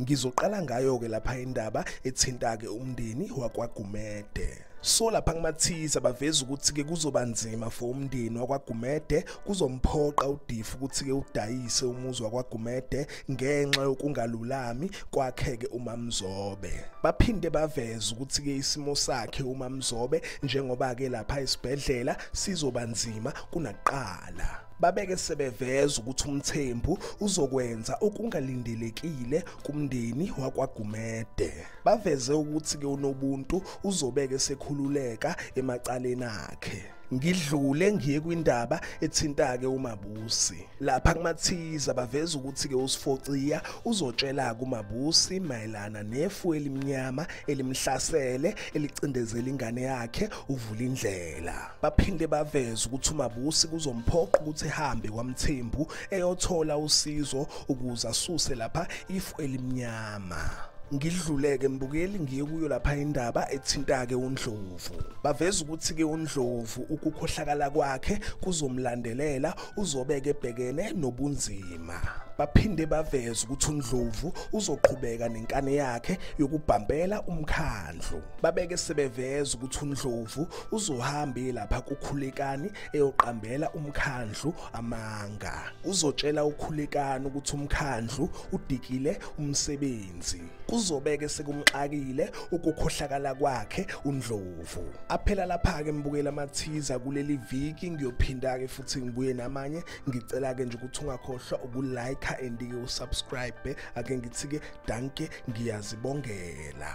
Ngizoqala ngayo-ke lapha indaba ethinta-ke umndeni wakwaGumede. so lapha kumathiza baveza ukuthi-ke kuzoba nzima for umndeni wakwagumede kuzomphoqa udifu ukuthi-ke udayise umuzi wakwagumede ngenxa yokungalulami kwakhe-ke umamzobe baphinde baveza ukuthi-ke isimo sakhe umamzobe njengoba-ke lapha esibhedlela sizoba nzima kunakuqala babeke sebeveza ukuthi umthembu uzokwenza okungalindelekile kumndeni wakwaGumede baveze ukuthi ke unobuntu uzobeke sekhululeka emacaleni akhe ngidlule ngiye kwindaba ethintake uMabusi lapha kumathiza baveza ukuthi ke uSifociya uzotshela kuMabusi mayelana nefu elimnyama elimhlasele elicindezela ingane yakhe uvula indlela baphinde baveze ukuthi uMabusi kuzomphoqa ukuthi ehambe kwaMthembu eyothola usizo ukuze asuse lapha ifu elimnyama ngidluleke mbukeli ngiye kuyo lapha indaba ethintake uNdlovu baveza ukuthi ke uNdlovu ukukhohlakala kwakhe kuzomlandelela uzobeke ebhekene nobunzima baphinde baveza ukuthi uNdlovu uzoqhubeka nenkane yakhe yokubhambela umkhandlu babeke sebeveza ukuthi uNdlovu uzohambe lapha kukhulekani eyoqambela umkhandlu amanga uzotshela ukhulekani ukuthi umkhandlu udikile umsebenzi kuzobeke sekumxakile ukukhohlakala kwakhe undlovu aphela lapha ke mbukela amathiza kuleli viki ngiyophinda ke futhi ngibuye namanye ngicela ke nje ukuthi ungakhohlwa ukulike and ke usubscribe ake ngithi ke danke ngiyazibongela